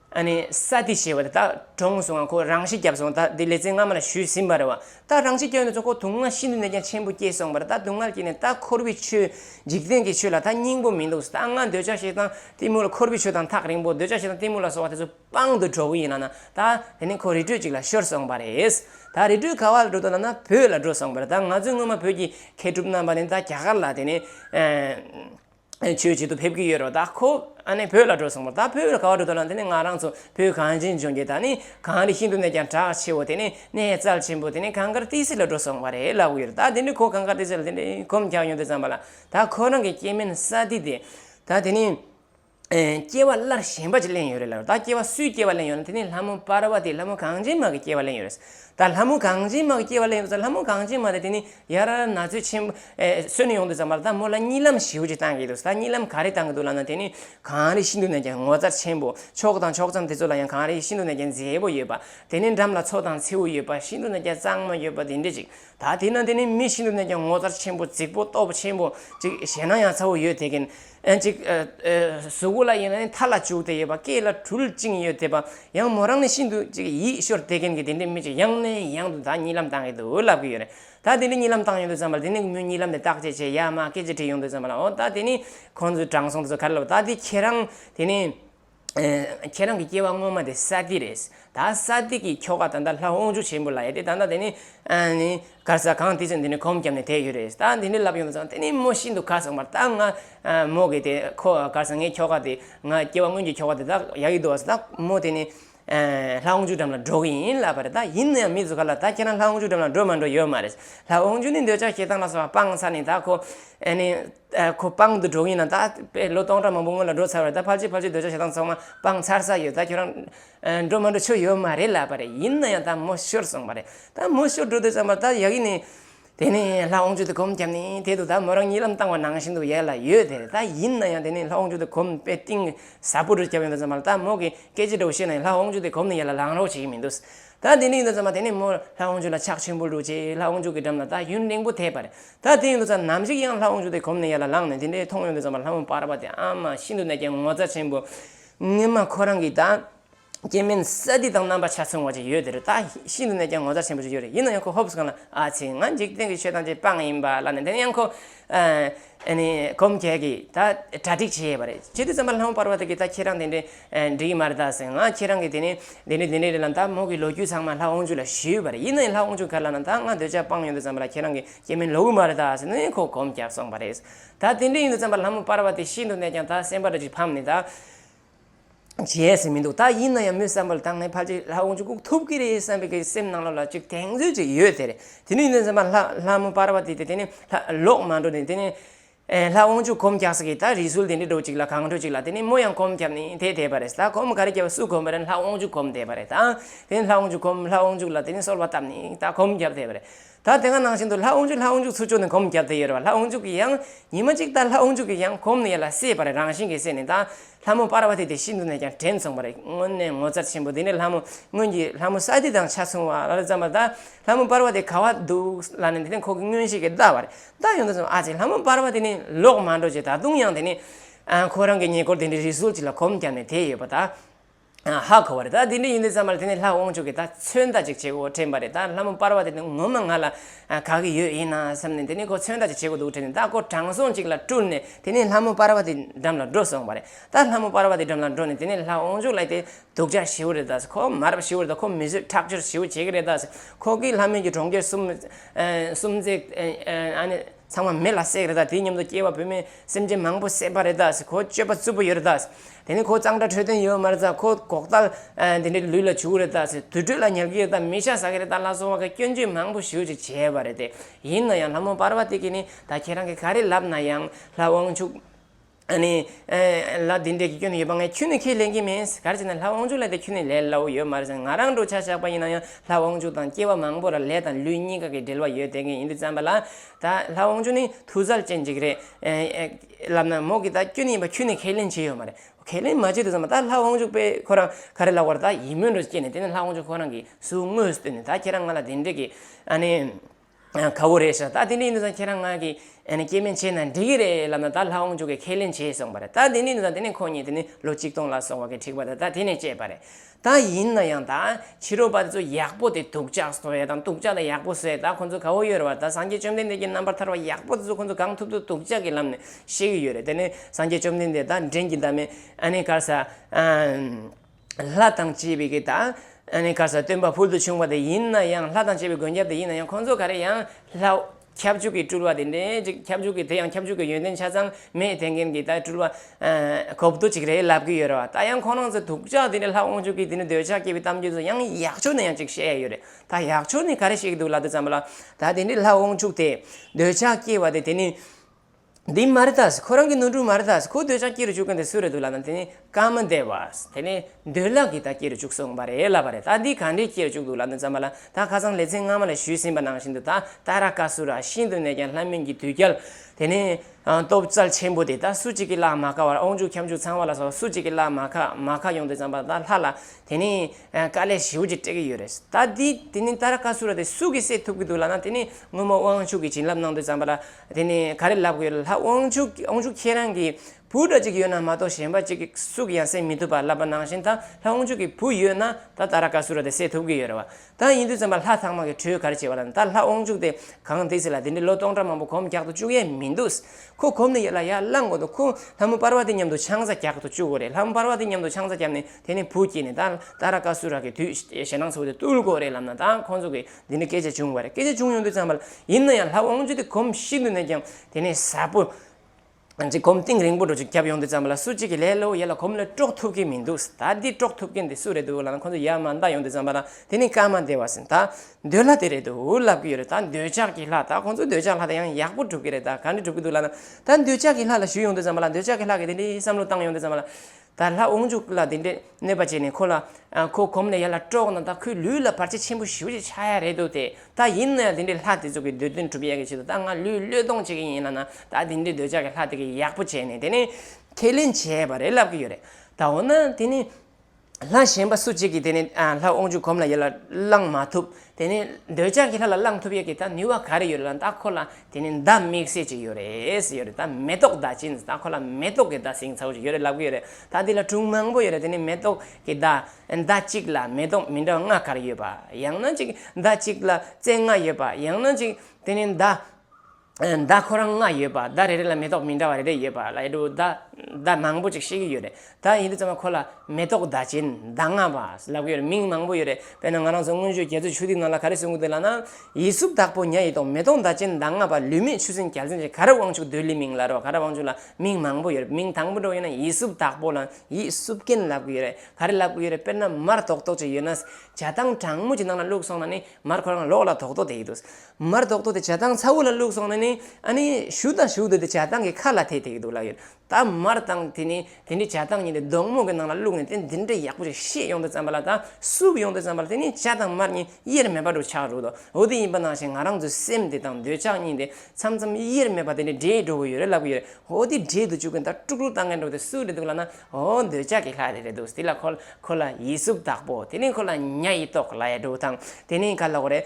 ཨ་ནི་ས་ཏི་ཞེས་པ་དེ་དག་གྲོངས་སོང་ང་ཁོ་རང་ཤི་བརྒྱབ་སོང་ད་དེ་ལེ་ཚན་སྔ་མ་ལ་ཞུས་ཟིན་པ་རེད་བ་ད་རང་ཤི་བརྒྱབ་ནས་ཚོ་ཁོ་དུང་ང་ཤིན་ཏུ་ནས་ཀྱང་ཆེན་པོ་སྐྱེས་སོང་བར་ད་དུང་ང་ཀྱི་ནས་ད་འཁོར་བའི་ཆོས་འཇིག་རྟེན་གྱི་ཆོས་ལ་ད་སྙིང་པོ་མི་འདུག་ད་ང་འདོད་ཆགས་ཤིག་དང་གཏི་མུག་ལ་འཁོར་བའི་ཆོས་དང་ཐག་རིང་པོ་འདོད་ཆགས་ཤིག་དང་གཏི་མུག་ལ་སོགས་བ་དེ་ཚོ་པང་དུ་འགྲོ་གི་ཡིན་ལགས་ན་ད་དེ་ནས་ཁོ་རི་ཁྲོད་ཅིག་ལ་ཤོར་སོང་བ་རེད་ད་རི་ཁྲོད་ག་བ་ལ་འགྲོ་དོ་ལགས་ན་བོད་ལ་འགྲོ་སོང་བར་ད་ང་ཚོའི་སྔོན་མ་བོད་ཀྱི་མཁས་གྲུབ་རྣམ་པ་ནས་ད་རྒྱ་གར་ལ་དེ་ནས་ཆོས་བྱེད་དུ་ཕེབས་ཀྱི་ཡོད་རོགས་ད་ཁོ་ཨ་ནི་བོད་ལ་འགྲོ་སོང་པོ་ད་བོད་ག་བ་འགྲོ་འདོད་ན་དེ་ནི་ང་རང་ཚོ་བོད་གངས་ཅན་ལྗོངས་ཀྱི་ད་ནི་གངས་རི་ཤིན་ཏུ་ནས་ཀྱང་གྲགས་ཆེ་བོ་དེ་ནི་ནས་ཙལ་ཆེན་པོ་དེ་ནི་གངས་དཀར་ཏི་སི་ལ་འགྲོ་སོང་བ་རེད་ལབ་གི་ཡོད་རེད་ད་དེ་འདྲའི་ཁོ་གངས་དཀར་ཏི་སི་ལ་དེ་འདྲའི་གོམ་རྒྱག་ཡོང་འདོད་ཙམ་པ་ལ་ད་ཁོ་རང་གི་སྐྱེས་དམན་ས་དེ་དེ་ད་དེ་ནི་སྐྱེ་བ་སླར་བཞེངས་པ་ཅིག་གླེང་ཡོད་རེད་ལབ་རེད་ད་སྐྱེ་བ་སུའི་སྐྱེ་བ་གླེང་ཡོད་ན་དེ་ནི་ལྷ་མོ་པར་བ་ཏི་ལྷ་མོ་གངས་ཅན་མ་གི་སྐྱེ་བ་གླེང་ཡོད་རེད་ད་ལྷ་མོ་གངས་ཅན་མ་གི་སྐྱེ་བ་ལེན་ཡོང་ས་ལྷ་མོ་གངས་ཅན་མ་དེ་དེ་ནི་ཡར་ར་ན་ཚོད་ཆེན་པོ་གསོན་ནས་ཡོང་འདུག་ཙང་མ་རེད་ད་མོ་ལ་གཉིད་ལམ་ཞེ་བོ་ཅིག་བཏང་གི་འདུག་ད་གཉིད་ལམ་ག་རེ་བཏང་གི་འདུག་ལབ་ན་དེ་ནི་གངས་རི་ཤིན་ཏུ་ནས་ཀྱང་ངོ་མཚར་ཆེན་པོ་ཕྱོགས་དང་ཕྱོགས་མཚམས་དེ་ཚོ་ལ་ཡང་གངས་རི་ཤིན་ཏུ་ནས་ཀྱང་མཛེས་པོ་ཡོད་པ་དེ་ནས་འགྲམ་ལ་མཚོ་དང་མཚེའུ་ཡོད་པ་ཤིན་ཏུ་ནས་ཀྱང་གཙང་མ་ཡོད་པ་དེ་འདྲས་ཅིག་ད་དེ་ན་དེ་ནི་མི་ཤིན་ཏུ་ནས་ཀྱང་ངོ་མཚར་ཆེན་པོ་རྫིག་པོ་སྟོབས་ཆེན་པོ་ཅིག་བྱས་ན་ཡང་ཚ་བོ་ཡོད་དེ་གིན། ཨན་ཅིག། གཟུགས་སྐུ་ལ་ཡིན་ན་ནི་མཐའ་ལ་བྱུགས་ཏེ་ཡོད་པ་སྐད་ལ་གྲུལ་བཅིངས་ཡོད་དེ། ཡང་མོ་རང་ནི་ཤིན་ཏུ་ཅིག་ཡིད་ཤོར་བདེ་མཁན་གྱི་དེ་འདྲའི་མི་ཅིག་ཡང་ནས་ཡང་དུ་ད་གཉིད་ལམ་བཏང་གི་འདུག་ལབ་གི་ཡོད་རེད། ད་དེ་འདྲའི་གཉིད་ལམ་བཏང་ཡོང་དུས་ཙམ་པར་དེ་ནི་མོའི་གཉིད་ལམ་དེ་བརྟག་དཔྱད་བྱེད་ཡ་མ་སྐད་ཅིག་བྲིས་ཡོང་དུས་ཙམ་པར་ལ་འོ་ད་དེ་ནི་ཁོང་ཚོས་དྲང་སྲོང་དེ་ཚོ་ག་རེ་ལབ་དང་ད་དེ་ཁྱེད་རང་དེ་ནི། ཁྱེད་རང་གི་སྐྱེ་བ་སྔོན་མ་དེ་ས་ཏི་རེད། ད་ས་ཏི་གི་ཁྱོ་ག་ད་ལྟ་ལྷ་དབང་ཕྱུག་ཆེན་པོ་ལ་ཡོད་དེ་ད་ལྟ་དེ་ནི། ནི། གར་ས་གངས་ཏི་ཆུ་འདི་ནས་གོམ་བརྒྱབ་ནས་བསྡད་ཡོད་རེད། ད་འདི་འདྲའི་ལབ་ཡོང་དུ་སོང་དེ་ནི་མོ་ཤི་འདུག་ག་སོང་བར་ད་ང། མོ་གིས་དེ་ཁོ་གར་ས་ངའི་ཁྱོ་ག་དེ་ང་སྐྱེ་བ་སྔོན་གྱི་ཁྱོ་ག་དེ་ད་ཡག་ཡོད་དུ་བ་སོང་ད་མོ་དེ་ནི། ལྷ་དབང་ཕྱུག་འགྲམ་ལ་འགྲོ་གི་ཡིན་ལབ་པ་རེད་ད་ཡིན་ན་ཡང་མི་ཚོ་ག་ལ་ད་ཁྱེད་རང་ལྷ་དབང་ཕྱུག་འགྲམ་ལ་འགྲོ་མ་འགྲོ་ཡོད་མ་རེད། ལྷ་དབང་ཕྱུག་ནི་འདོད་ཆགས་ཞེ་སྡང་ལ་སོགས་པ་སྤང་ཚར་ནས་ད་ཁོ་ཨེ་ནི། ཁོ་སྤང་དུ་འགྲོ་གི་ཡིན་ན་ད་དཔེ་ལོ་སྟོང་ཕྲག་མང་པོ་སྔོན་ལ་འགྲོ་ཚར་བ་རེད་ད་ཕལ་ཆེར་ཕལ་ཆེར་འདོད་ཆགས་ཞེ་སྡང་ཚང་མ་སྤང་ཚར་ས་ཡོད་ད་ཁྱོད་རང། འགྲོ་མ་འགྲོ་ཆོད་ཡོད་མ་རེད་ལབ་པ་རེད་ཡིན་ན་ཡང་ད་མོ་ཤོར་སོང་བ་རེད་ད་མོ་ཤོར་འགྲོ་འདོད་ཙམ་པ་ད་ཡག་གི་ནི། དེ་ནས་ལྷ་དབང་ཕྱུག་དེ་གོམ་བརྒྱབ་ནས་དེ་དུ་ད་མོ་རང་ཉིད་ལམ་བཏང་བ་ནང་བཞིན་དུ་ཡལ་ལ་ཡོད་དེར་ད་ཡིན་ན་ཡང་དེ་ནས་ལྷ་དབང་ཕྱུག་དེ་གོམ་དཔེ་གཏིང་གི་ས་པོ་རུ་བརྒྱབ་ཡོང་དོན་ཙམ་མ་ལ་ད་མོ་གིས་སྐད་ཅིག་འགྲོ་ཤེས་ན་ཡང་ལྷ་དབང་ཕྱུག་དེ་གོམ་ནས་ཡལ་ལ་ལངས་རོགས་བྱེད་ཀྱི་མི་འདུག་ད་དེ་འདྲ་ཡིན་དོན་ཙམ་མ་དེ་ནས་མོ་ལྷ་དབང་ཕྱུག་ལ་ཕྱག་ཆེན་པོ་འདུག་ཅེས་ལྷ་དབང་ཕྱུག་གི་འགྲམ་ལ་ད་ཡུན་རིང་པོ་དེད་པར་ད་དེ་ཡིན་དོན་ཙམ་ནམ་ཞིག་ཡང་ལྷ་དབང་ཕྱུག་དེ་གོམ་ནས་ཡལ་ལ་ལངས་ནས་དེ་འདྲའི་མཐོང་ཡོང་དོན་ཙམ་མ་ལྷ་མོ་འབར་བ་དེ་ཨ་མ་ཤིན་ཏུ་ནས་ཀྱང་ངོ་ཚ་ཆེན་པོ། ངེད་མ་ཁོ་རང་གིས་ད། སྐྱེས་མིན་ས་དེ་དང་རྣམ་པ་ཆ་མཚུངས་བ་ཅིག་ཡོད་དེར་བརྟགས་ཤིང་དུ་ནས་ཀྱང་ངོ་མཚར་ཆེན་པོ་ཞིག་ཡོད་རེད་ཡིན་ན་ཡང་ཁོ་ཧོབ་སི་གང་ལ་ཨ་ཚེ་ང་འཇིག་རྟེན་གྱི་ཆོས་ཐམས་ཅད་སྤང་ཡིན་པ་ལ་ནི་དེ་ནི་ཡང་ཁོ་གོམས་ཁྱེད་ཀྱིས་ད་གྲ་སྒྲིག་བྱེད་ཡས་པ་རེད་ཁྱེད་དུས་བརྩམས་པ་ལྷ་མོ་པར་བ་ཏི་གིས་ད་ཁྱེད་རང་དེ་འདྲའི་འགྲིག་མར་བཏགས་ཟིན་ང་ཁྱེད་རང་གིས་དེ་ནི་དེ་འདྲའི་དེ་འདྲའི་རེད་ལ་ད་མོ་གི་ལོ་རྒྱུས་ཚང་མ་ལྷ་དབང་ཕྱུག་ལ་ཞུས་ཡོད་པ་རེད་ཡིན་ན་ཡང་ལྷ་དབང་ཕྱུག་གར་ལ་ན་ད་ང་འདོད་ཆགས་སྤང་ཡོང་དུས་བརྩམས་པ་ལ་ཁྱེད་རང་གིས་སྐྱེས་མིན་ལོ་དབུ་མར་བཏགས་ཟིན་ནུ་ཡིན་ཁོ་གོམས་ཀྱག་སོང་བ་རེད་ད་དེ་འདྲའི་ཡིན་དུས་བརྩམས་པ་ལྷ་མོ་པར་བ་ཏི་ཤིན་ཏུ་ནས་ཀྱང་ད་སེམས་པ་རེ་ཅིག་ཕམ་ནས་ད། བྱས་ཟིན་མི་འདུག་ད་ཡིན་ན་ཡང་མོས་བསམ་པར་ད་ངའི་ཕ་གཅིག་ལྷ་དབང་ཆུ་བཀུག་ཐུབ་ཀྱི་རེད་བསམ་པའི་གི་སེམས་ནང་ལོགས་ལ་ཅིག་དེང་འདོད་ཅིག་ཡོད་དེ་རེད་དེ་ནས་ཡིན་ན་བསམ་པ་ལྷ་ལྷ་མོ་དཔར་བ་དེ་དེ་ནས་ལྷ་ལོག་མ་འགྲོ་ནས་དེ་ནས་ཨེ་ལྷ་དབང་ཆུ་གོམ་ཁྱགས་ཟེར་གི་ད་རི་སུལ་དེ་འདྲས་འགྲོ་ཅིག་ལ་གང་འགྲོ་ཅིག་ལ་དེ་ནས་མོ་ཡང་གོམ་ཁྱབ་ནས་དེ་བསྡད་པ་རེད་ད་གོམ་ག་རེ་ཁྱབ་སུ་གོམ་པ་རེད་ལྷ་དབང་ཆུ་གོམ་བསྡད་པ་རེད་ད་དེ་ནས་ལྷ་དབང་ཆུ་གོམ་ལྷ་དབང་ཆུ་ལ་དེ་ནས་སོལ་བ་བཏབ་ནས་ད་གོམ་ཁྱབ་བསྡད་པ་རེད། ད་དེ་སྔ་ནང་བཞིན་དུ་ལྷ་དབང་ཕྱུག་ལྷ་དབང་ཕྱུག་ཚུར་བཅོས་ནས་གོམས་བརྒྱབ་སྟེ་ཡོད་རེད་བ་ལྷ་དབང་ཕྱུག་གིས་ཡང་ཉི་མ་གཅིག་ལྟར་ལྷ་དབང་ཕྱུག་གིས་ཡང་གོམས་ནས་ཡོད་ལ་བསད་པ་རེད་རང་བཞིན་གྱིས་བསད་ནས་ད་ལྷ་མོ་པར་བ་དེ་དེ་ཤིན་ཏུ་ནས་ཀྱང་དྲན་སོང་བ་རེད་དངོས་གནས་ངོ་མཚར་ཆེན་པོ་འདི་ནི་ལྷ་མོ་སྔོན་གྱི་ལྷ་མོ་ས་ཏི་དང་ཆ་མཚུངས་བ་ལ་ལས་བརྩམས་པ་ད་ལྷ་མོ་པར་བ་དེ་ག་བ་འདུག་ལ་ནི་དེ་ནི་ཁོག་གི་སྔོན་ཤེས་ཀྱི་བརྡ་བ་རེད་ད་ཡོང་དུ་སོང་ཨ་ཅེ་ལྷ་མོ་པར་བ་དེ་ནི་ལོག་མ་འགྲོ་ཅེས་ད་དུང་ཡང་དེ་ནི་ཁོ་རང་གི་ཉེ་སྐོར་དེ་འདྲའི་རི་སུལ་ཅིག་ལ་གོམས་བརྒྱབ་ནས་དེ་ཡོད་པ་ད། ཧ་གོ་བ་རེད་ད་དེ་འདྲ་ཡིན་དུས་ཚང་མར་དེ་ནས་ལྷ་དབང་ཕྱུག་གི་ད་ཚོན་ལྟ་ཅིག་བྱེད་དགོས་དྲན་པ་རེད་ད་ལྷ་མོ་པར་བ་དེ་ནི་ངོ་མ་ང་ལ་ག་གི་ཡོད་ཡིན་ནམ་བསམ་ནས་དེ་ནས་ཁོ་ཚོན་ལྟ་ཅིག་བྱེད་དགོས་འདུག་དྲན་ནས་ད་ཁོ་དྲང་སྲོང་ཅིག་ལ་སྤྲུལ་ནས་དེ་ནས་ལྷ་མོ་པར་བ་དེ་འགྲམ་ལ་འགྲོ་སོང་བ་རེད་ད་ལྷ་མོ་པར་བ་དེ་འགྲམ་ལ་འགྲོ་ནས་དེ་ནས་ལྷ་དབང་ཕྱུག་ལ་དེ་དུག་ཅག་ཞི་བོ་རེད་ད་ཁོ་མར་བ་ཞི་བོ་རེད་ད་ཁོ་མི་བཟོད་ཁྲག་སྦྱོར་ཞི་བོ་བྱེད་ཀྱི་རེད་ད་ཁོ་གིས་ལྷ་མོན་གྱི་གྲོང་ཁྱེར་གསུམ་བརྩེགས། ཚང་མ་མེ་ལ་བསྲེགས་རེད་ད་དེའི་མཉམ་དུ་སྐྱེ་བ་བོད་མི་སེམས་ཅན་མང་པོ་བསད་པ་རེད་ད་ཁོ་སྤྱོད་པ་རྩུབ་པོ་ཡོད་རེད་ད་དེ་ནས་ཁོ་གཙང་སྦྲ་འཕྲོད་དོན་ཡོད་མ་རེད་ད་ཁོ་གོག་རྟགས་དེ་འདྲའི་ལུས་ལ་བྱུག་རེད་ད་དུད་འགྲོས་ལ་ཉར་གི་རེད་ད་མི་ཤ་ཟ་གི་རེད་ད་ལ་སོགས་བ་ག་སྐྱོན་བརྗོད་མང་པོ་ཞུ་ཅིག་བྱས་པ་རེད་དེ་ཡིན་ན་ཡང་ལྷ་མོ་འབར་བ་དེ་གིས་ནི་ད་ཁྱེད་རང་གི་ག་རེ་ལབ་ན་ཡང་ལྷ་དབང་ཕྱུག། ཨ་ནི། ལ། འདི་འདྲའི་གི་སྐྱོན་ཡོད་པ་ངས་ཁྱོད་ནས་ཁས་ལེན་གྱི་མིན། གལ་ཆེ་ན་ལྷ་དབང་ཕྱུག་ལ་དེ་ཁྱོད་ནས་ལས་སླ་བོ་ཡོད་མ་རེད་བསམ་ང་རང་འགྲོ་ཆ་ཞག་པ་ཡིན་ན་ཡང་ལྷ་དབང་ཕྱུག་དང་སྐྱེ་བ་མང་པོ་ར་ལས་དང་ལུས་གཉིས་ཀ་གི་འབྲེལ་བ་ཡོད་དེ་གི་ཡིན་དུས་བསམ་པ་ལ། ད་ལྷ་དབང་ཕྱུག་ནི་ཐུགས་ཟལ་ཅན་ཅིག་རེད། ལབ་ན་མོ་གི་ད་སྐྱོན་ཡིན་པ་ཁྱོད་ནས་ཁས་ལེན་བྱས་ཡོད་མ་རེད། ཁས་ལེན་མ་བྱས་དུས་བསམ་པ་ད་ལྷ་དབང་ཕྱུག་པས་ཁོ་རང་ག་རེ་ལབ་བར་ད་ཡིད་སྨོན་འགྲོ་སྐྱེས་ནས་དེ་ནས་ལྷ་དབང་ཕྱུག་ཁོ་རང་གི་ཟུག་དངོས་སུ་བཏོན་ནས་ད་ཁྱེད་རང་ང་ལ་དེ་འདྲའི་གི། ཨ་ནི། ཁ་བོ་རེད་ཤག་ད་དེ་ནས་ནི་བཟང་ཁྱེད་རང་ང་གི་སྐྱེས་དམན་བྱས་ན་འགྲིག་གི་རེད་ལབ་ན་ད་ལྷ་འོང་འཇུག་གི་ཁས་ལེན་བྱས་སོང་པ་རེད་ད་དེ་ནས་ནི་བཟང་དེ་ནས་ཁོང་གཉིས་དེ་ནི་ལོ་གཅིག་སྟོང་ལ་སོང་བ་གི་འཁྲིག་པ་དེ་ད་དེ་ནས་བཅད་པ་རེད་ད་ཡིན་ན་ཡང་ད་ཕྱི་རོལ་པ་དེ་ཚོ་ཡག་པོ་དེ་དུག་ཅག་སོ་ཡ་དང་དུག་ཅག་དེ་ཡག་པོ་སོ་ཡ་ད་ཁོང་ཚོ་ཁ་བོ་ཡོད་རེད་བ་ད་སངས་རྒྱས་བཅོམ་ལྡན་འདས་ཀྱི་རྣམ་པར་ཐར་བ་ཡག་པོ་དེ་ཚོ་ཁོང་ཚོ་གང་ཐུབ་ཐུབ་དུག་ཅག་གི་ལམ་ནས་ཤེས་ཀྱི་ཡོད་རེད་དེ་ནས་སངས་རྒྱས་བཅོམ་ལྡན་འདས་ད་འགྲན་གྱི་ད་མེད་ཨ་ནེ་ཀར་ས། ལྷ་དང་བཅས་པའི་གེ་དང། ནས་ཁར་ས་སྟོན་པ་ཕུལ་དུ་ཕྱུང་བ་དེ་ཡིན་ན་ཡང་ལྷ་དང་བཅས་པའི་མགོན་སྐྱབས་དེ་ཡིན་ན་ཡང་ཁོང་ཚོ་ག་རེ་ཡང་ལྷའོ། ཁྱབ་འཇུག་གིས་སྤྲུལ་བ་དེ་འདྲེ་གཅིག་ཁྱབ་འཇུག་གི་དེ་ཡང་ཁྱབ་འཇུག་གི་ཡོན་ཏན་ཆ་ཚང་མེད་དེ་མཁན་གྱི་ད་སྤྲུལ་བ། གོབ་ཏོ་གཅིག་རེད་ལབ་གི་ཡོད་རེད་བ་ད་ཡང་ཁོང་རང་ཚོའི་ཐུགས་ལྕག་དེ་འདྲེ་ལྷ་དབང་ཕྱུག་གི་དེ་འདྲེ་འདོད་ཆགས་སྐྱེ་བའི་གཏམ་རྒྱུད་ཚོ་ཡང་ཡག་ཆོད་ནས་ཡང་གཅིག་བཤད་ཡ་ཡོད་རེད་ད་ཡག་ཆོད་ནི་ག་རེ་བཤད་གི་འདུག་ལབ་དུ་བརྩམས་པ་ལ། ད་དེ་འདྲེ་ལྷ་དབང་ཕྱུག་དེ། འདོད་ཆགས་སྐྱེ་བ་དེ་དེ་ནི། འདི་མ་རེད་ད། ཁོ་རང་གི་ནོར་འཁྲུལ་མ་རེད་ད། ཁོའི་འདོད་ཆགས་སྐྱེ་རུ་བཅུག་མཁན་དེ་སུ་རེད་འདུག་ལབ་ན་དེ་ནི་བཀའ་མོ་འདས་པ། དེ་ནི་འདོད་ལགས་ཀྱིས་ད་སྐྱེ་རུ་བཅུག་སོང་བ་རེད་ལབ་པ་རེད་ད་འདི་ག་འདྲས་སྐྱེ་རུ་བཅུག་འདུག་ལབ་ན་བརྩམས་པ་ལ་ད་ཁ་སང་ལེ་ཚན་སྔ་མ་ལ་ཞུས་ཟིན་པ་ནང་བཞིན་དུ་ད་ལྟ་ར་ཀ་སུ་ར་ཤིན་ཏུ་ནས་ཀྱང་ལྷ་མིན་གྱི་དུས་རྒྱལ། དེ་ནི། སྟོབས་རྩལ་ཆེན་པོ་དེ་ད་སུ་གཅིག་གིས་བརླག་མ་དཀའ་བར་ཨོང་འཇུག་ཁྱམས་འཇུག་ཚང་བ་ལ་སོགས་སུ་གཅིག་གིས་བརླག་མ་དཀའ་མ་དཀའ་ཡོང་དུས་བརྩམས་པ་ད་ལྷ་ལ་དེ་ནི། དཀའ་ལས་ཞེ་བོ་ཅིག་སྤྲད་ཀྱི་ཡོད་རེད་ད་འདི་དེ་ནི་ད་ར་ཀ་སུ་ར་དེ་སུ་གིས་སེལ་ཐུབ་ཀྱི་འདུག་ལབ་ན་དེ་ནི་སྔོན་མ་དབང་ཕྱུག་གིས་བྱིན་རླབས་གནང་དུས་བརྩམས་པ་ལ། དེ་ནི་ག་རེ་ལབ་དགོས་ལྷ་དབང་ཕྱུག་དབང་ཕྱུག་ཁྱེད་རང་གི་བུ་འདྲ་གཅིག་ཡོད་ན་མ་གཏོགས་གཞན་པ་གཅིག་གིས་སུག་ཡང་བསད་མི་ཐུབ་པ་ལབ་པ་ནང་བཞིན་ད་ལྷ་དབང་ཕྱུག་གི་བུ་ཡོད་ན་ད་ད་ར་ཀ་སུ་ར་དེ་བསད་ཐུབ་གི་ཡོད་རེད་བ་ད་ཡིན་དུས་ཙམ་པ་ལྷ་ཚང་མ་གི་གྲོས་ག་རེ་བྱེད་བ་ལ་ནི་ད་ལྷ་དབང་ཕྱུག་དེ་གང་དེ་སྲིད་ལ་དེ་འདྲའི་ལོ་སྟོང་ཕྲག་མང་པོ་གོམ་རྒྱག་ཏུ་བཅུག་ཡས་མི་འདུག་ཁོ་གོམ་ནས་ཡོད་ལ་ཡར་བླངས་དགོས་འདུག་ཁོ་ལྷ་མོ་པར་བ་དེ་མཉམ་དུ་ཆང་ས་རྒྱག་ཏུ་བཅུག་གོ་རེད་ལྷ་མོ་པར་བ་དེ་མཉམ་དུ་ཆང་ས་བརྒྱབ་ནས་དེ་ནས་བུ་སྐྱེས་ནས་ད་ད་ར་ཀ་སུ་ར་གི་དུས་ཞེ་སྣང་ཚུགས་ཏེ་བཏུལ་གོ་རེད་ལབ་ན་ད་ཁོང་ཚོ་གི་འདི་ནི་སྐད་ཆ་བྱུང་བ་རེད་སྐད་ཆ་བྱུང་ཡོང་དུས་ཙམ་པ་ཡིན་ན་ཡང་ལྷ་དབང་ཆུ་དེ་གོམ་གཤིས་འདི་ནས་ཀྱང་དེ་ནས་ཟབ་པོ། ཅིག་གོམ་གཏིང་རིང་པོ་འགྲོ་ཅིག་རྒྱབ་ཡོང་དུས་ཙམ་པ་ལ་སུ་གཅིག་གིས་ལེ་ལོ་ཡེ་ལ་གོམ་ལ་དཀྲོག་ཐུབ་ཀྱི་མི་འདུག་ད་འདི་དཀྲོག་ཐུབ་མཁན་དེ་སུ་རེད་འདུག་ལ་ན་ཁོ་ཚོ་ཡར་མར་འདའ་ཡོང་དུས་ཙམ་པ་ན་དེ་ནི་སྐར་མ་དེ་བ་ཟིན་ད་འདོད་ལྷ་དེ་རེད་འདུག་ལབ་ཀྱི་ཡོད་རེད་ད་འདོད་ཆགས་ཀྱི་ལྷ་ད་ཁོང་ཚོ་འདོད་ཆགས་ལྷ་དེ་ཡང་ཡག་པོ་གྲུབ་ཀྱི་རེད་ད་ག་འདྲི་གྲུབ་ཀྱི་འདུག་ལ་ན་ད་འདོད་ཆགས་ཀྱི་ལྷ་ལ་ཞུས་ཡོང་དུས་ཙམ་པ་ལ་འདོད་ཆགས་ཀྱི་ལྷ་གིས་དེ་འདྲའི་བསམ་བློ་བཏང་ཡོང་དུས་ཙམ་པ་ལ། དར་ལྷ་དབང་ཕྱུག་ལ་དེ་འདྲའི་གནོད་པ་བྱས་ནས་ཁོ་ལ། ཁོ་གོམས་ནས་ཡར་ལ་དཀྲོགས་ན་ད་ཁོའི་ལུས་ལ་བར་ཆད་ཆེན་པོ་ཞི་བ་ཞིག་ཆགས་ཡ་རེད་འདུག་དེ་ལྟ་ཡིན་ན་ཡང་དེ་འདྲའི་ལྷ་དེ་ཚོ་གི་འདོད་དོན་གྲུབ་ཡ་གི་ཆེད་དུ་ད་ང་ལུས་བློས་གཏོང་བྱེད་ཀྱི་ཡིན་ལ་ན་ད་དེ་འདྲའི་འདོད་ཆགས་ཀྱི་ལྷ་དེ་གི་ཡག་པོ་བྱས་ནས་དེ་ནི། ཁས་ལེན་བྱས་པ་རེད་ལབ་ཀྱི་ཡོད་རེད། ད་འོ་ན་དེ་ནི། ལྷ་གཞན་པ་སུ་གཅིག་གིས་དེ་ནི་ལྷ་དབང་ཕྱུག་གོམས་ལ་ཡར་ལ་བསླང་མ་ཐུབ། དེ་ནས་འདོད་ཆགས་ཀྱི་ལྷ་ལ་བླང་ཐུབ་ཡོད་ཀྱི་ད་ནུས་བ་ག་རེ་ཡོད་རེད་ད་ད་ཁོ་ལ་དེ་ནས་མདའ་དམིགས་བསལ་ཅིག་ཡོད་རེད་ཡོད་རེད་ད་མེ་ཏོག་མདའ་ཅན་ད་ཁོ་ལ་མེ་ཏོག་གི་མདའ་བསྲིང་ཚ་བོ་ཞིག་ཡོད་རེད་ལབ་ཀྱི་ཡོད་རེད་ད་དེ་ལ་དྲུག་མང་པོ་ཡོད་རེད་དེ་ནས་མེ་ཏོག་གི་མདའ་མདའ་གཅིག་ལ་མེ་ཏོག་མི་འདྲ་བ་ལྔ་ག་རེ་ཡོད་པ་ཡང་ན་ཅིག་མདའ་གཅིག་ལ་རྩེ་ལྔ་ཡོད་པ་ཡང་ན་ཅིག་དེ་ནས་མདའ། ཟླ་ཁོ་རང་ལྔ་ཡོད་པ་ཟླ་རེ་རེ་ལ་མེ་ཏོག་མི་འདྲ་བ་རེ་རེ་ཡོད་པ་ལ་ཡ་དྲུག་ཟླ་ཟླ་མང་པོ་ཅིག་ཤེས་ཀྱི་ཡོད་རེད་ད་ཡིན་དུས་ཙམ་ལ་ཁོ་ལ་མེ་ཏོག་ཟླ་ཆེན་ཟླ་ལྔ་པ་ལབ་ཀྱི་ཡོད་རེད་མིང་མང་པོ་ཡོད་རེད་དཔེར་ན་ང་རང་ཚོ་སྔོན་བྱོན་རྒྱལ་མཚོས་ཆུ་ཐིགས་ནང་ལ་ག་རེ་གསུང་གི་འདུག་ལགས་ན། ཡིད་སྲུབས་དག་པོ་ཉྭ་ཡི་ཏོག་མེ་ཏོག་ཟླ་ཆེན་ཟླ་ལྔ་པ་ལུས་མེད་ཆུ་སྲིན་གྱ་ཚན་ཅེས་ག་རེ་དབང་ཕྱུག་འདོད་ལི་མིང་ལ་རོ་ག་རེ་དབང་ཕྱུག་ལ་མིང་མང་པོ་ཡོད་རེད་མིང་དང་པོ་འགྲོ་ཡོད་ན་ཡིད་སྲུབས་དག་པོ་ལ་ཡིད་སྲུབས་རྐྱེན་ལབ་ཀྱི་ཡོད་རེད་ག་རེ་ལབ་ཀྱི་ཡོད་རེད་དཔེར་ན་མར་དོག་དོག་ཅིག་ཡོད་ན། བྱ་ཐང་གྲང་མོ་ཅིག་ནང་ལ་བླུགས་སོང་ན་ནི་མར་ཁོ་རང་ལོག་ལ་དོག་དོག་བསྡད་ཀྱི་འདུག། མར་དོག་ཏུ་དེ་བྱ་དང་ཚ་བོ་ལ་བླུགས་སོང་ན་ནི་ཨ་ནི་ཞུ་དང་ཞུགས་དུ་དེ་བྱ་དང་གི་ཁ་ལ་ཐེ་ཐེ་གི་འདུག་ལགས་ཡོད་ད་མར་དང་དེ་ནི་དེ་འདྲའི་བྱ་དང་ཉིད་དེ་སྡོང་མོ་གི་ནང་ལ་བླུགས་ནས་དེ་འདི་འདྲའི་ཡག་པོ་ཞིག་ཤེས་ཡོང་དུ་བརྩམས་པ་ལ་ད་སུག་ཡོང་དུ་བརྩམས་པ་ལ་དེ་ནི་བྱ་དང་མར་གཉིས་དབྱེར་མེད་པ་འདྲུ་ཆགས་འདུག་འོ་དེ་ཡིན་པ་ནང་བཞིན་ང་རང་ཚོའི་སེམས་དེ་དང་འདོད་ཆགས་གཉིས་དེ་མཚམས་མཚམས་དབྱེར་མེད་པ་དེ་འདྲའི་འདྲེས་འགྲོ་གི་ཡོད་རེད་ལབ་གི་ཡོད་རེད་འོ་དེ་འདྲེས་དུ་བཅུག་གིན་ད་དཀྲུག་དཀྲུག་བཏང་གིན་འགྲོ་དེ་སུ་རེད་འདུག་ལ་ན་འོ་འདོད་ཆགས་ཀྱི་ལྷ་དེ་རེད་འདུག་དེ་ལ་ཁོ་ལ་ཁོ་ལ་ཡིད་སྲུབས་དག་པོ་དེ་ནི་ཁོ་ལ་ཉྭ་ཡི་ཏོག་ལ་ཡ་འབྲུག་དང་དེ་ནི་ག་ལོག་རེད།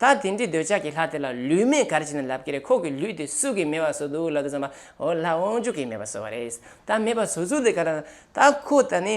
ད་དེ་འདྲའི་འདོད་ཆགས་ཀྱི་ལྷ་དེ་ལ་ལུས་མེད་གར་བྱས་ནས་ལབ་ཀྱི་རེད་ཁོག་གི་ལུས་དེ་བསུ་གི་མེད་པ་བཟོ་འདུག་ལབ་ཏུ་བརྩམས་པ་འོ་ལྷ་དབང་ཕྱུག་གིས་མེད་པ་བཟོ་བ་རེད། ད་མེད་པ་བཟོ་ཚུལ་དེ་ག་རང་ད་ཁོ་ད་ནི་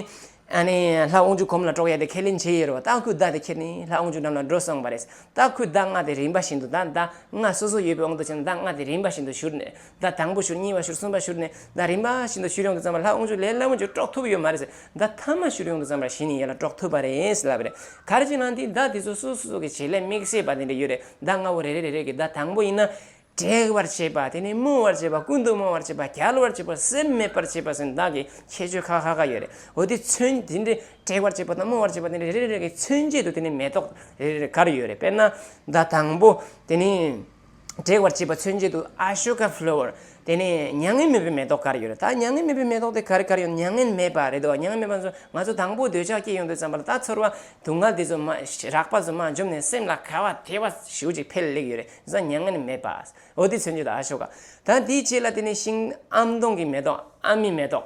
ཨ་ནི་ལྷ་དབང་ཕྱུག་ཁོམ་ལ་དཀྲོག་ཡ་དེ་ཁས་ལེན་བྱས་ཡོད་རོ་ད་ཁོས་བརྡ་དེ་ཁྱེར་ནས་ལྷ་དབང་ཕྱུག་འགྲམ་ལ་འགྲོ་སོང་བ་རེད་ད་ཁོས་བརྡ་མངགས་དེ་རིན་པ་བཞིན་དུ་ད་བརྡ་མངགས་སོ་སོ་ཡོད་པའི་དབང་དུ་བྱས་ན་བརྡ་མངགས་དེ་རིན་པ་བཞིན་དུ་བཞུར་ནས་ཟླ་དང་པོ་ཞུར་གཉིས་པ་ཞུར་གསུམ་པ་ཞུར་ནས་ཟླ་རིམ་པ་བཞིན་དུ་ཞུར་ཡོངས་དུ་བརྩམས་པ་ལྷ་དབང་ཕྱུག་ལས་སླ་མོ་འགྱུར་དཀྲོག་ཐུབ་ཡོད་མ་རེད་ཟེར་ཟླ་ཐ་མ་ཞུར་ཡོངས་དུ་བརྩམས་པ་བཞིན་ཡིད་ལ་དཀྲོག་ཐུབ་པ་རེད་ལབ་པ་རེད། གར་གྱི་ནང་དེའི་ཟླ་དེ་ཚོ་སོ་སོ་གི་བྱེད་ལས་དམིགས་བྱེད་པ་དེ་འདྲ་ཡོད་རེད་ཟླ་ལྔ་བོ་རེ་རེ་རེ་རེ་གི་ཟླ་དང་པོ་ཡིན་ན། དྲེགས་བར་བྱེད་པ་དེ་ནས་རྨོངས་བར་བྱེད་པ་ཀུན་ཏུ་རྨོངས་བར་བྱེད་པ་རྒྱལ་བར་བྱེད་པ་སེམས་མེད་པར་བྱེད་པ་སོགས་བདག་གི་ཁྱད་ཆོས་ཁ་ཁ་ཁ་ཡོད་རེད་འོ་དེ་མཚོན་དེ་འདྲའི་དྲེགས་བར་བྱེད་པ་དང་རྨོངས་བར་བྱེད་པ་དེ་འདྲ་རེ་རེ་རེ་རེ་གི་མཚོན་བྱེད་དུ་དེ་ནས་མེ་ཏོག་རེ་རེ་རེ་གར་ཡོད་རེད་དཔེར་ན་ཟླ་དང་པོ་དེ་ནི། འབྲེལ་བར་བྱེད་པ་མཚོན་བྱེད་དུ Ashoka Flower དེ་ནི་མྱ་ངན་མེད་པའི་མེ་ཏོག་གར་ཡོད་རེད་ད། མྱ་ངན་མེད་པའི་མེ་ཏོག་དེ་གར་གར་ཡོང་མྱ་ངན་མེད་པ་རེད་དོ་མྱ་ངན་མེད་པ་ཚོ་ང་ཚོ་དང་པོ་འདོད་ཆགས་སྐྱེས་ཡོང་དུས་བརྩམས་པ་ལ་ད་ཚོར་བ་དུག་ལྔ་དེ་ཚོ་མ་རག་པ་ཚོ་མ་འཇོམས་ནས་སེམས་ལ་ཁ་བ་ཐལ་བ་ཞིག་ཅིག་འཕེལ་ལེགས་ཡོད་རེད་བཟང་མྱ་ངན་མེད་པ་འོ་དེ་མཚོན་བྱེད་དུ Ashoka ད་དེའི་རྗེས་ལ་དེ་ནི་ཤིང་ཨམ་སྡོང་གི་མེ་ཏོག་ཨ་མའི་མེ་ཏོག།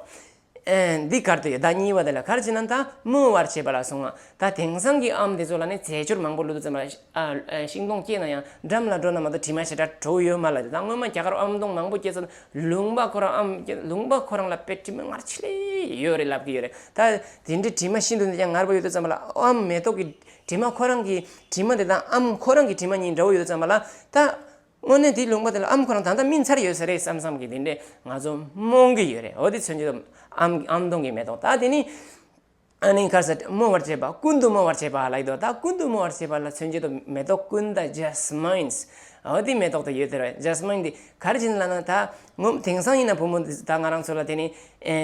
འདི་གར་དུ་ཡོད་བདག་ཉིད་བ་དེ་ལ་གར་བྱེད་ན་དང་མོ་བར་བྱེད་པ་ལ་སོང་ང་ད་དེང་སང་གི་ཨམ་དེ་ཚོ་ལ་ནི་རྫས་སྦྱོར་མང་པོ་ལུས་དུ་བཙན་པ་ཤིང་སྡོང་སྐྱེས་ན་ཡང་འགྲམ་ལ་འགྲོ་ན་མ་དོ་དྲི་མ་ཞེ་དྲག་དྲོ་བོ་ཡོད་མ་ལ་དེ་དང་སྔོན་མ་རྒྱ་གར་ཨམ་སྡོང་མང་པོ་སྐྱེས་ཚོ་ལུང་པ་ཁོ་རང་ཨམ་ལུང་པ་ཁོ་རང་ལ་དཔེ་དྲི་མ་ངར་ཆེ་ལེ་ཡོད་རེད་ལབ་གི་ཡོད་རེད་ད་དེ་འདྲའི་དྲི་མ་ཤིན་ཏུ་འདི་ཀྱང་ངར་པོ་ཡོད་དུ་བཙན་པ་ལ་ཨམ་མེ་ཏོག་གི་དྲི་མ་ཁོ་རང་གི་དྲི་མ་དེ་དང་ཨམ་ཁོ་རང་གི་དྲི་མ་གཉིས་འདྲ་བོ་ཡོད་དུ་བཙན་པ་ལ་ད། དངོས་གནས་དེའི་ལུང་པ་དེ་ལ་ཨམ་གོ་རང་ད་ལྟ་སྨིན་ཚར་ཡོད་ས་རེད་བསམ་བསམ་གི་དེ་འདྲས་ང་ཚོ་རྨོངས་གི་ཡོད་རེད་འོ་དེ་ཚོས་འཇུ་ཐབས་ཨམ་གྱི་ཨམ་སྟོང་གི་མེ་ཏོག་ད་དེ་ནི། ཨ་ནི་ཁར་ས་རྨོ་བར་བྱེད་པ་ཀུན་ཏུ་རྨོ་བར་བྱེད་པ་ལ་ཡིད་དོ་ད་ཀུན་ཏུ་རྨོ་བར་བྱེད་པ་ལ་ཚོས་འཇུ་ཐབས་མེ་ཏོག་ཀུན་ད Jasmines འོ་དེ་མེ་ཏོག་དེ་ཡོད་དེ་རེད Jasmine འདི་གར་བྱིན་ལ་ན་ད་ངོ། དེང་སང་ཡིན་ན་བུ་མོ་འདི་ད་ང་རང་ཚོ་ལ་དེ་ནི།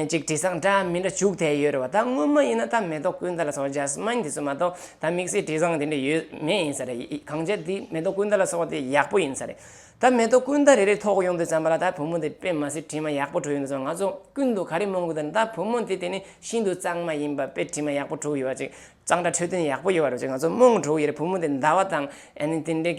ཅིག་དྲི་བཟང་འདྲ་མི་འདྲ་བྱུག་ཐལ་ཡོད་རེད་བ་ད་སྔོན་མ་ཡིན་ན་ད་མེ་ཏོག་ཀུན་ད་ལ་སོགས་འཇའ་སྨན་དེ་ཚོ་མ་གཏོགས་ད་དམིགས་བསལ་དྲི་བཟང་དེ་འདྲ་ཡོད་མེད་ཡིན་ས་རེད་གང་བྱས་དེ་མེ་ཏོག་ཀུན་ད་ལ་སོགས་དེ་ཡག་པོ་ཡིན་ས་རེད་ད་མེ་ཏོག་ཀུན་ད་རེ་རེ་ཐོག་ཡོང་དུས་ཙམ་པ་ལ་ད་བུ་མོ་དེ་པས་མ་ཟད་དྲི་མ་ཡག་པོ་བྲུག་ཡོང་དུས་ཙམ་ང་ཚོ་ཀུན་ཏུ་ག་རེ་སྨོན་དགོས་དང་ད་བུ་མོ་དེ་དེ་ནི་ཤིན་ཏུ་གཙང་མ་ཡིན་པ་པས་དྲི་མ་ཡག་པོ་བྲུག་ཡོད་བ་ཅིག་གཙང་སྦྲ་འཕྲོད་བསྟེན་ཡག་པོ་ཡོད་པ་རེད་ཅེས་ང་ཚོ་རྨོངས་དྲུག་ཡེར་བུ་མོ་དེ་འདའ་བ་དང་དེ་འདྲའི་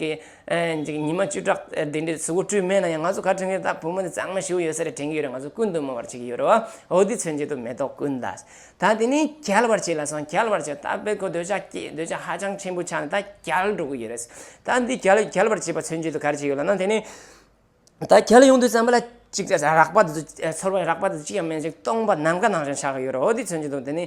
གི་ཉི་མ་བཅུ་ཕྲག་དེ་འདྲའི་ཟུག་དཀྲུས་མེད་ན་ཡང་ང་ཚོ་ག་དྲན་གི་ད་བུ་མོ་དེ་གཙང་མ་ཞིག་ཡོད་ས་རེད་དྲན་གི་ཡོད་རེད་ང་ཚོ་ཀུན་ཏུ་སྨོས་པར་བྱེད་ཀྱི་ཡོད་རེད་བ་འོ་དེ་ཚོའི་མཇུག་ཏུ་མེ་ཏོག་ཀུན་ད་ད་དེ་ནི་གྱལ་བར་བྱས་ལ་སོང་གྱལ་བར་བྱས་ད་དཔེ་ཁོ་འདོད་ཆགས་སྐྱེས་འདོད་ཆགས་ཧ་ཅང་ཆེན་པོ་ཆགས་ནས་ད་གྱལ་འགྲོ་གི་ཡོད་རེད་ད་འདི་གྱལ་གྱལ་བར་བྱས་པ་ཚོའི་མཇུག་ཏུ་ག་རེ་བྱེད་ཀྱི་ཡོད་ལ་ན་དེ་ནི། ད་ཁྱེད་ལ་ཡོང་དུས་ཙམ་པོ་ལ་གཅིག་ཅར་རག་པ་དེ་ཚོ་ཚོར་བ་རག་པ་དེ་ཚོ་གཅིག་ཀྱང་མེད་ཅིང་སྟོང་པ་ནམ་མཁའ་ནང་བཞིན་ཆགས་ཡོད་རོ་འདི་ཚོན་གྱི་འདུག་དེ་ནི།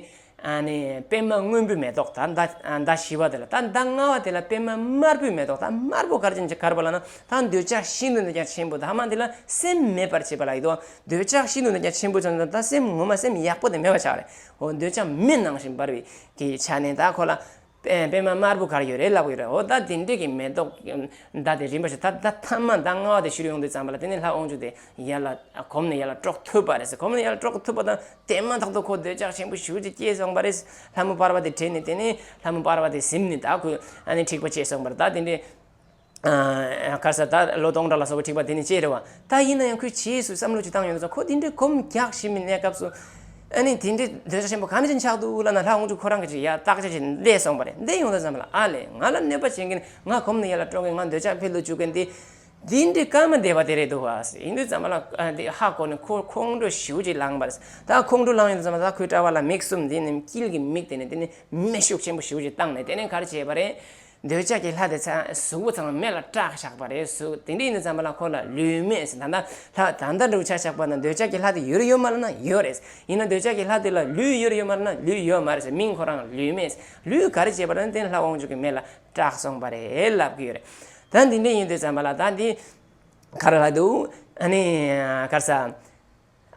ནི། པདྨ་སྔོན་པོའི་མེ་ཏོག་དང་ཟླ་བྱི་བ་དེ་ལ་དང་ཟླ་ལྔ་བ་དེ་ལ་པདྨ་དམར་པོའི་མེ་ཏོག་དང་དམར་པོ་གར་ཅན་གྱི་གར་བ་ལ་ན་དང་འདོད་ཆགས་ཤིན་ཏུ་འདི་ཀྱང་ཆེན་པོ་དག་མ་དེ་ལ་སེམས་མེད་པར་བྱེད་པ་ལ་ཡིད་དོ། འདོད་ཆགས་ཤིན་ཏུ་འདི་ཀྱང་ཆེན་པོ་ཆུང་ཆུང་དང་སེམས་ངོ་མ་སེམས་ཡག་པོ་དེ་མེད་པར་ཆགས་ལ་ཡིད་འོང་འདོད་ཆགས་མེད་སྣང་བཞིན་འབར་བའི་དེའི་ཆ་ནས་དག་ཁོ་ལ། པད་མ་དམར་པོ་གར་ཡོད་རེད་ལབ་ཀྱི་རེད་ཨོ་ད་དེ་འདྲས་ཀྱི་མེ་ཏོག་མདའ་དེ་རིམ་པར་ཞིག་ད་ད་ཐ་མ་མདའ་སྔ་བ་དེ་བཞུར་ཡོང་དུས་ཙམ་པ་ལ་དེ་ནས་ལྷག་དབང་ཕྱུག་དེ་ཡར་ལ་གོམ་ནས་ཡར་ལ་དཀྲོག་ཐུབ་པ་རེད་གོམ་ནས་ཡར་ལ་དཀྲོག་ཐུབ་པ་དང་དེ་མ་ཐག་ཏུ་ཁོ་འདོད་ཆགས་ཆེན་པོ་ཞུ་རྒྱུ་སྐྱེས་སོང་པ་རེད་ལྷ་མོ་དཔར་བ་དེ་དྲན་ནས་དེ་ནས་ལྷ་མོ་དཔར་བ་དེ་གཟིམ་ནས་ད་ཁོས་ཨ་ནི་འཁྲིག་པ་སྐྱེས་སོང་པར་ད་དེ་འདྲས། ཁར་ས་ད་ལོ་སྟོང་ཕྲག་ལ་སོགས་པའི་འཁྲིག་པ་དེ་ནི་སྤྱད་རེ་བ་ད་ཡིན་ན་ཡང་ཁོས་བྱིས་སུ་བསམ་བློ་ཅི་བཏང་ཡོད་ན་ཚོ་ཁོ་དེ་འདྲའི་གོམ་རྒྱག་བཞིན་པའི་གནས་སྐབས་སུ། ཨ་ནི་དེ་འདྲའི་འདོད་ཆགས་ཆེན་པོ་ག་ནས་ཅི་འཆགས་འདུག་ལབ་ན་ལྷ་དབང་ཕྱུག་ཁོ་རང་གིས་ཅི་ཡ་བརྟག་དཔྱད་བྱས་ནས་བསྡད་སོང་བ་རེད་འདི་ཡོང་ས་ཙམ་ལ་ཨ་ལས་ང་ལ་གནོད་པ་བྱེད་མཁན་ང་གོམ་ནས་ཡར་ལ་སྤྲོ་མཁན་ང་འདོད་ཆགས་འཕེལ་དུ་འཇུག་མཁན་དེ་འདི་འདྲའི་སྐར་མ་སྡེ་བ་དེ་རེད་འདུག་བ་ཡིན་དུས་ཙམ་ལ་དེ་ཧ་གོ་ནས་ཁོས་ཁོང་ཁྲོ་ཞེའུ་ཅིག་ལངས་པ་རེད་ད་ཁོང་ཁྲོ་ལངས་ཡོད་དུས་ཙམ་ལ་ད་ཁོའི་སྐྲ་བ་ལ་མིག་གསུམ་འདི་ནི་དཀྱིལ་གྱི་མིག་དེ་ནས་དེ་ནི་མེ་ཤུགས་ཆེན་པོ་ཞེའུ་ཅིག་བཏང་ནས་དེ་ནས་གར་བྱས་པ་རེད། འདོད་ཆགས་ཀྱི་ལྷ་དེ་ཚེ་གཟུགས་པོ་ཚང་མེད་ལ་སྐྲག་བཞག་པ་རེད་ཟུག་དེ་འདྲས་ཡིན་ཙམ་པ་ལ་ཁོ་ལ་ལུས་མེད་ཟེར་ད་ལྟ་ལྷ་ད་ལྟ་འབྲུག་ཆ་ཆགས་པ་ན་འདོད་ཆགས་ཀྱི་ལྷ་དེ་ཡོད་རེད་ཡོད་མ་རེད་ན་ཡོད་རེད་ཡིན་ན་འདོད་ཆགས་ཀྱི་ལྷ་དེ་ལ་ལུས་ཡོད་རེད་ཡོད་མ་རེད་ན་ལུས་ཡོད་མ་རེད་མིང་ཁོ་རང་ལུས་མེད་ལུས་ག་རེ་བྱས་པ་རེད་ན་དེ་ནི་ལྷ་དབང་ཕྱུག་གི་མེད་ལ་སྐྲག་སོང་པ་རེད་ལབ་ཀྱི་ཡོད་རེད་ད་འདི་འདྲས་ཡིན་འདོད་ཙམ་པ་ལ་ད་འདི་གར་ལྷ་འདུག་ཨ་ནི་གར་ས།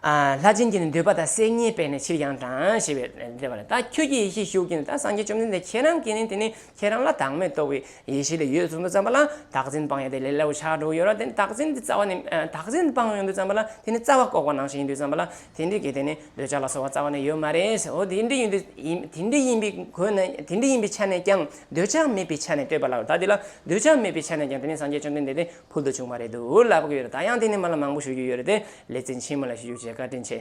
ལྷ་སྦྱིན་གྱིས་ནི་འདོད་པ་དང་སེམས་ཉིད་སྤེལ་ནས་ཕྱིར་ཡང་དྲངས་ཞེས་པའི་སྡེ་པ་ལས་ད་ཁྱོད་ཀྱི་ཡེ་ཤེས་ཤུགས་ཀྱིས་ནི་ད་སངས་རྒྱས་བཅོམ་ལྡན་འདས་ཁྱེད་རང་གིས་ནི་དེ་ནི་ཁྱེད་རང་ལ་བདག་མེད་རྟོགས་པའི་ཡེ་ཤེས་ལས་ཡོད་གསུང་དུ་བརྩམས་པ་ལ་བདག་འཛིན་སྤངས་ཡོང་དེ་ལས་སླ་བོ་ཆགས་དྲུག་ཡོད་ལ་དེ་ནི་བདག་འཛིན་གྱི་རྩ་བ་ནི་བདག་འཛིན་སྤངས་ཡོང་དུ་བརྩམས་པ་ལ་དེ་ནི་རྩ་བ་བཀོག་པ་ནང་བཞིན་ཡིན་དུ་བརྩམས་པ་ལ་དེ་འདྲའི་གེགས་དེ་ནི་འདོད་ཆགས་ལ་སོགས་བ་རྩ་བ་ནས་ཡོད་མ་རེད་ཟེར་འོ་དེ་འདྲ་ཡིན་དུ་དེ་འདྲ་ཡིན་པའི་གོས་ན་དེ་འདྲ་ཡིན་པའི་ཆ་ནས་ཀྱང་འདོད་ཆགས་མེད་པའི་ཆ་ནས་ལྟོས་པ་ལགས་ད་དེ་ལ་འདོད་ཆགས་མེད་པའི་ཆ་ནས་ཀྱང་དེ་ནི་སངས་རྒྱས་བཅོམ་ལྡན་འདས་དེ་ཕུལ་དུ་བྱུང་བ་རེད་འདུག་ལབ་ཀྱི་ཡོད་ད་ཡང་དེ་ནས་མི་ལ་མང་པོ་ཞུ་རྒྱུ་ཡོད་རེད་དེ་ལས་བཙན་ཆེན་མི་ལ་ཞུ་རྒྱུ་བཅས་བཀའ་དྲིན་ཆེ།